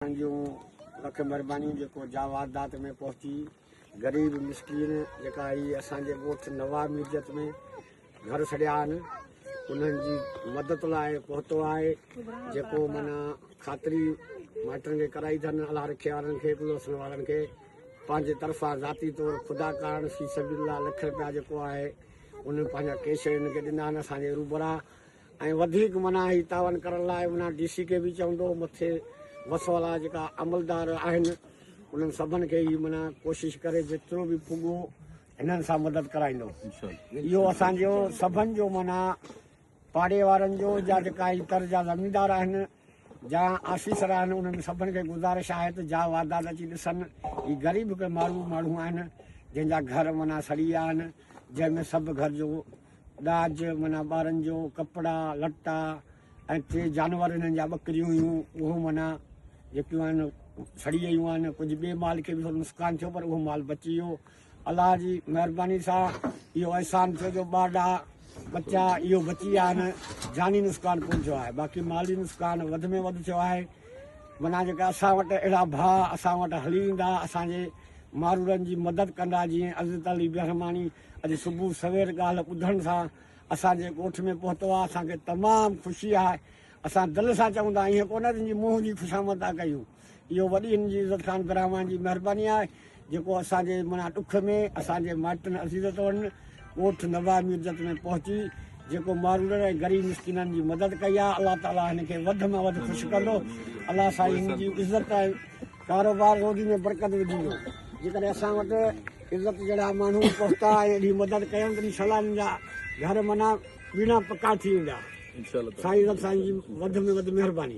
توهان جون لک مھربانيون جيڪو جاوادات ۾ پهچي غريب مسڪين جيڪا هي اسان جي ڳوٺ نواب ميرجت ۾ گهر سڙيا آهن انهن جي مدد لاء پهتو آهي جيڪو معنيٰ خاطري مائٽن کي ڪرائي اٿن الله رکي وارن کي بلوسن وارن کي پنهنجي طرفان ذاتي طور خدا ڪارڻ في سبيل الله لک رپيا جيڪو آهي انهن پنهنجا ڪيش هنن کي ڏنا آهن اسان جي روبرا ۽ وڌيڪ منا هي تعاون ڪرڻ لاء منا ڊي سي کي به چوندو مٿي وس ولا جيڪا عملدار آهن انهن سڀن کي هي منا ڪوشش ڪري جيترو به پڳو هنن سان مدد ڪرائيندو اهو اسان جو سڀن جو منا پاڙي وارن جو جا جيڪا هي تر جا زميندار آهن جا آفيسر آهن انهن سڀن کي گذارش آهي ته جا واڌاد اچي ڏسن هي غريب ڪي ماڙهو ماڻهو آهن جن جا گهر معنيٰ سڙي ويا آهن جنهن ۾ سڀ گهر جو ڏاج معنيٰ ٻارن جو ڪپڙا لٽا ۽ ٽي جانور انهن جا ٻڪريون هيون اهو معنيٰ جيڪيون آهن سڙي ويون آهن ڪجهه ٻي مال کي به ٿورو نقصان ٿيو پر اهو مال بچي ويو الله جي مهرباني سان اهو احسان ٿيو جو ٻه ڏاهه ٻچا اهو بچي ويا آهن جاني نسڪان ڪونه ٿيو آهي باقي مالي نسڪان وڌ ۾ وڌ ٿيو آهي منا جيڪا اسان وٽ اهڙا ڀاء اسان وٽ هلي ايندا اسان جي مارورن جي مدد ڪندا جيئن عزت علي بهرماڻي اڄ صبح سوير ڳالهه ٻڌڻ سان اسان جي ڳوٺ ۾ پهتو آهي اسان کي تمام خوشي آهي اسان دل سان چئون ٿا ائين ڪونه تنهنجي منهن جي خوشامد ٿا ڪيون. اهو وڏي ان جي عزت خان برهمان جي مهرباني آهي جيڪو اسان جي منا ڏک ۾ اسان جي مائٽن عزيز توڙن ڳوٺ نواه ميرجت ۾ پهچي جيڪو ماروڙن ۽ غريب مسڪينن جي مدد ڪئي آهي الله تعالي هن کي وڌ مان وڌ خوش ڪندو الله سائين هن جي عزت ۽ ڪاروبار روزي ۾ برڪت وجهندو جيڪڏهن اسان وٽ عزت جهڙا ماڻهو پهتا ۽ اهڙي مدد ڪيون تڏهن سلانين جا گهر منا ويڙها پڪا ٿي ويندا سائين رب سائين جي وڌ ۾ وڌ مهرباني.